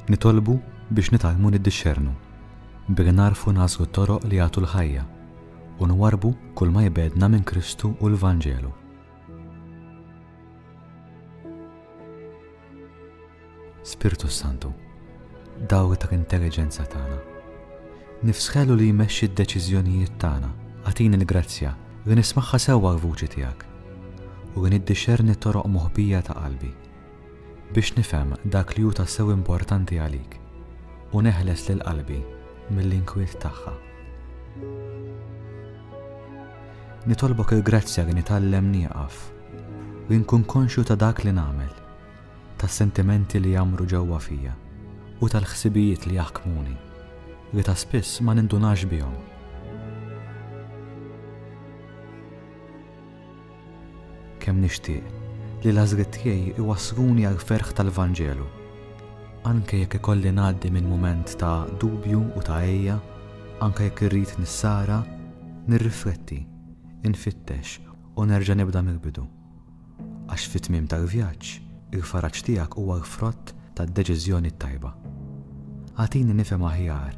Nitolbu biex nitalmu niddixxernu, billi narfu nasu toroq li jagħtu l-ħajja u nwarbu kull ma jbedna minn Kristu u l-Vanġelu. Spirtu Santu, dawl ta' intelligenza tagħna. Nifsħelu li jmexxi d-deċiżjonijiet tagħna, għatini l-grazzja li nismagħha sewwa l-vuċi tiegħek u li niddixxerni toroq moħbija ta' qalbi. biex nifhem dak li hu tassew importanti għalik u neħles lil qalbi mill-inkwiet tagħha. Nitolbok il-grazzja li nitgħallem nieqaf u nkun konxju ta' dak li nagħmel, tas-sentimenti li jamru ġewwa fija u tal-ħsibijiet li jaħkmuni li ta' spiss ma nindunax bihom. Kemm nixtieq li l-għażliet tiegħi jwassluni għall-ferħ tal-Vanġelu, anke jekk ikolli ngħaddi minn mument ta' dubju u ta' għeja, anke jekk irrid nissara, nirrifletti, infittex u nerġa' nibda mill-bidu. Għax fit-tmiem tal-vjaġġ, il-faraġ tiegħek huwa l-frott tad-deċiżjoni t-tajba. Agħtini nifhem aħjar